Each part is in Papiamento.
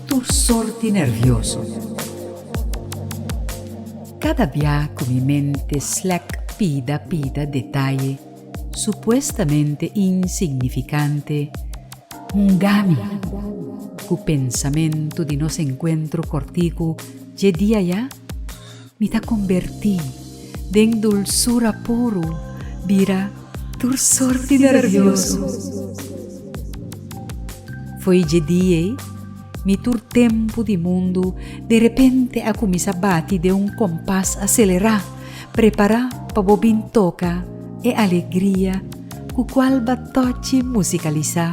Tur sorti nervioso. Kada bia ku mi mente slèk pida pida detaye supuestamente insignifikante hungami ku pensamentu di nos enkuentro kòrtiku dje dia ya? Mi ta kombertí den dulsura puru bira tur sorti nervioso. Foi dje di ei mi tur tempu di mundu derepente a kuminsá bati den un kompas aselerá, prepará pa bo bin toka e alegria ku kual ba tòchi musikalisá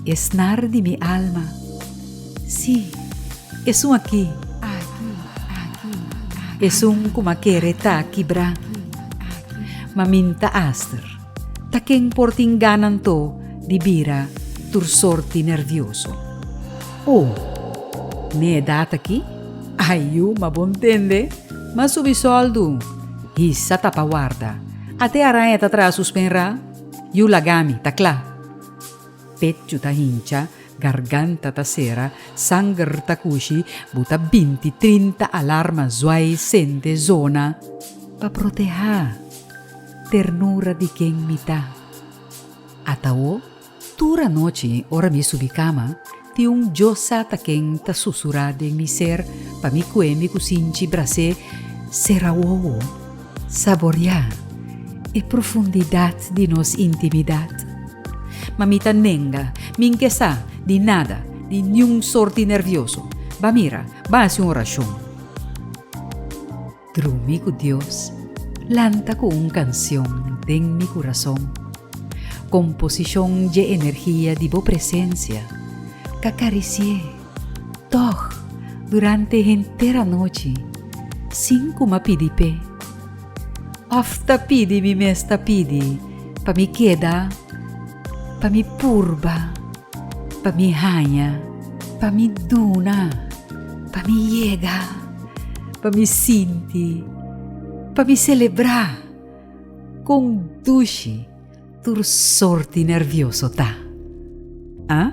e snar di mi alma. Sí, esun aki. Esun ku m'a kere ta kibrá. Ma min ta aster, ta ken por tin gana anto di bira tur sorti nervioso. Oh, n'e edat aki? Ai yu, ma bo ntende? M'a subi sòldu. Hisa ta pa warda. Ate araña ta traha su spenrá. Yu laga mi, ta kla. Pechu ta hincha. Garganta ta sera, sanger ta cushi, bu ta binti trinta alarma zuai sende zona pa proteha ternura di ken mi ta. Atao tur anochi ora mi subi cama tin un yo sa ta ken ta susura den mi ser pa mi cue mi cusinchi brase sera wowo. Saboriá e profundidat di nos intimidat. Ma mi ta nenga, mi n'ke sa di nada, di niun sort di nervioso. Ba mira, ba hasi un orashon. Drumi ku Dios lanta ku un kansion den mi kurason. Komposishon dje energia di Bo presensia ka karisié. Tòg, durante henter anochi, sin ku m'a pidi p'e, òf ta pidi mi mes ta pidi pa mi keda, pa mi purba, pa mi haña, pa mi duna, pa mi yega, pa mi sinti, pa mi selebrá kon dushi. tur sort di nervioso ta. A?